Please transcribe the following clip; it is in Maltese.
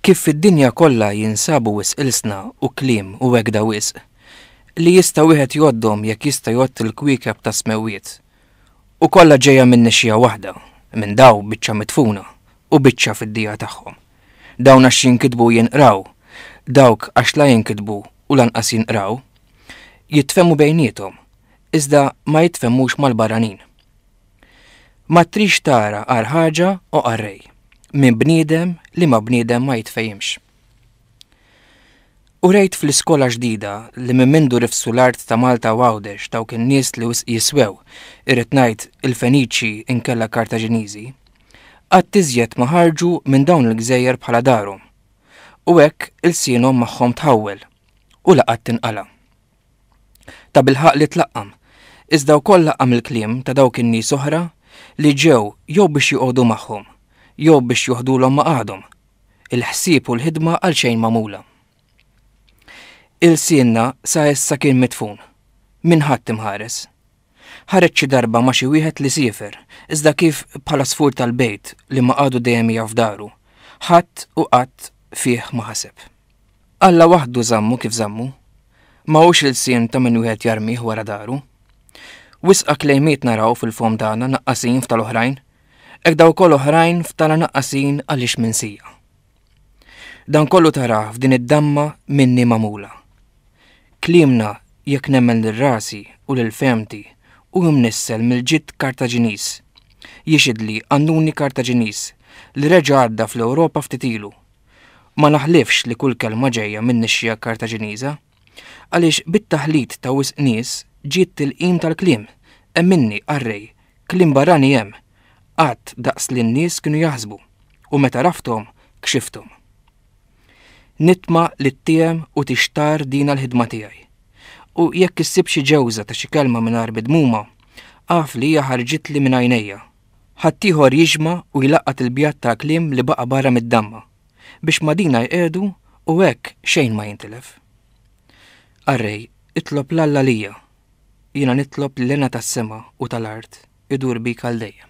Kif fid-dinja kollha jinsabu wis ilsna u kliem u wegda wisq li jista' wieħed joddhom jekk jista' jgħodd il-kwiekeb ta' smewiet. U kollha ġejja minn nixxija waħda, minn daw biċċa mitfuna u biċċa fid-dija tagħhom. Dawn għax jinkitbu jinqraw, dawk għax la jinkitbu u lanqas jinqraw, jitfehmu bejniethom, iżda ma jitfehmux mal-barranin. Ma trix tara għar ħaġa u qarrej, minn bniedem li ma' bniedem ma jitfejimx. U rejt fl-iskola ġdida li minn mindu rifsu l-art ta' Malta u Għawdex dawk in-nies li wisq jiswew, irrid ngħid il-Feniċi inkella Kartaġiniżi, Qatt iżjed ma ħarġu minn dawn il-gżejjer bħala darhom, u hekk ilsienhom magħhom tħawwel, u la qatt tinqala'. Tabilħaqq li tlaqqam, iżda wkoll laqqam il-kliem ta' dawk in-nies oħra li ġew jew biex joqogħdu magħhom, jew biex joħdulhom maqgħadhom, il-ħsieb u l-ħidma għalxejn magħmula. Ilsienna sa issa kien midfun, minn ħadd imħares. Ħareġ xi darba ma' xi wieħed li siefer, iżda kif bħala sfur tal-bejt li ma għadu dejjem jaf daru, ħadd u qatt fih ma ħaseb. Alla waħdu żammu kif żammu. Ma hux ilsien ta' min wieħed jarmih wara daru. Wisqa klejmiet naraw fil-fomm tagħna naqqasin f'tal-oħrajn, hekk dawk ukoll oħrajn f'tagħna naqqasin għaliex minsija. Dan kollu tarah f'din id-damma minni magħmula. Kliemna jekk nemmen lil rasi u lil fehmti u mnissel mill-ġid Kartaġiniż. Jixhidli qannuni Kartaġiniż li reġa' għadda fl-Ewropa ftit ilu. Ma naħlifx li kull kelma ġejja min-nixxiegħa Kartaġiniża. Għaliex bit-taħlit ta' wisq nies ġiet tilqim tal-kliem. Emminni, qarrej, kliem barrani hemm, qatt daqs li n-nies kienu jaħsbu, u meta għrafthom, kxifthom. Nitma' li ttiehem u tixtarr dina l-ħidma tiegħi. U jekk issib xi ġewża ta' xi kelma mingħajr midmuma, agħrf li hija ħarġitli minn għajnejja. Ħaddieħor jiġma' u jlaqqat il-bjad tal-kliem li baqa' barra mid-damma, biex madina jqiegħdu u hekk xejn ma jintilef. Arrej, itlob l-Alla lija, jiena nitlob l-ena tas-sema u tal-art idur bik għal dejjem.